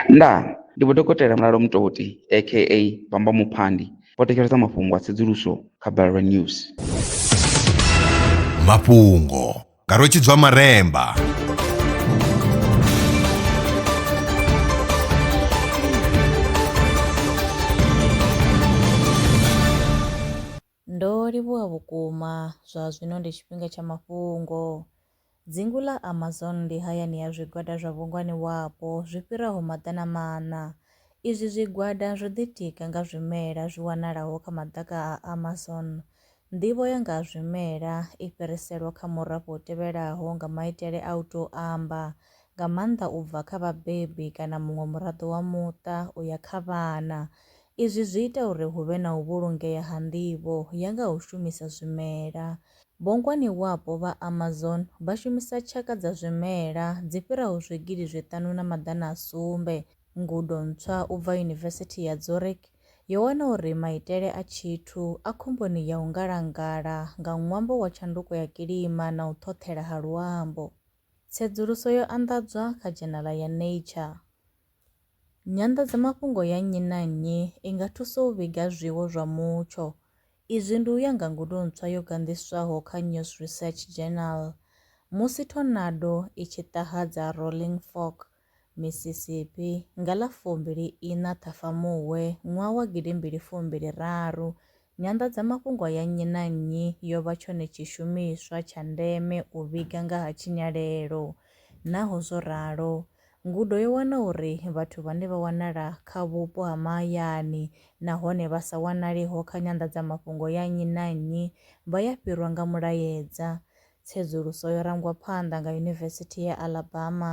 Ndaa! Ndi Vho Dokotela Mulalo Mutoti aka Bamba Muphandi vho thetshelesa mafhungo a tsedzuluso kha Balelwa News. Mafhungo nga Rwe Tshidzwa Maremba. Ndo livhuwa vhukuma! Zwa zwino ndi tshifhinga tsha mafhungo. Dzingu ḽa Amazon ndi hayani ya zwigwada zwa vhungwani wapo zwi fhiraho maḓana maṋa. Izwi zwigwada zwo ḓitika nga zwimela zwi wanalaho kha maḓaka a Amazon. Nḓivho ya nga ha zwimela i fhiriselwa kha murafho u tevhelaho nga maitele a u tou amba, nga maanḓa u bva kha vhabebi kana muṅwe muraḓo wa muṱa u ya kha vhana. Izwi zwi ita uri hu vhe na u vhulungea ha nḓivho ya nga ha u shumisa zwimela. Bongwaniwapo vha Amazon vha shumisa tshaka dza zwimela dzi fhiraho zwigidi zwi ṱanu na maḓana a sumbe. Ngudo ntswa u bva Yunivesithi ya Zurich yo wana uri maitele a tshithu a khomboni ya u ngalangala nga ṅwambo wa tshanduko ya kilima na u ṱhoṱhela ha luambo. Tsedzuluso yo anḓadzwa kha dzhenala ya Nature. Nyanḓadzamafhungo ya nnyi na nnyi i nga thusa u vhiga zwiwo zwa mutsho. Izwi ndi u ya nga ngudo ntswa yo ganḓiswaho kha News Research Journal. Musi thonado i tshi ṱahadza Rolling Fork, Mississippi, nga ḽa fumbili iṋa Ṱhafamuhwe ṅwaha wa gidi mbili fumbili raru, nyanḓadzamafhungo ya nnyi na nnyi yo vha tshone tshishumiswa tsha ndeme u vhiga nga ha tshinyalelo. Naho zwo ralo, ngudo yo wana uri vhathu vhane vha wanala kha vhupo ha mahayani nahone vha sa wanaleho kha nyanḓadzamafhungo ya nnyi na nnyi vha ya fhirwa nga mulaedza. Tsedzuluso yo rangwa phanḓa nga Yunivesithi ya Alabama.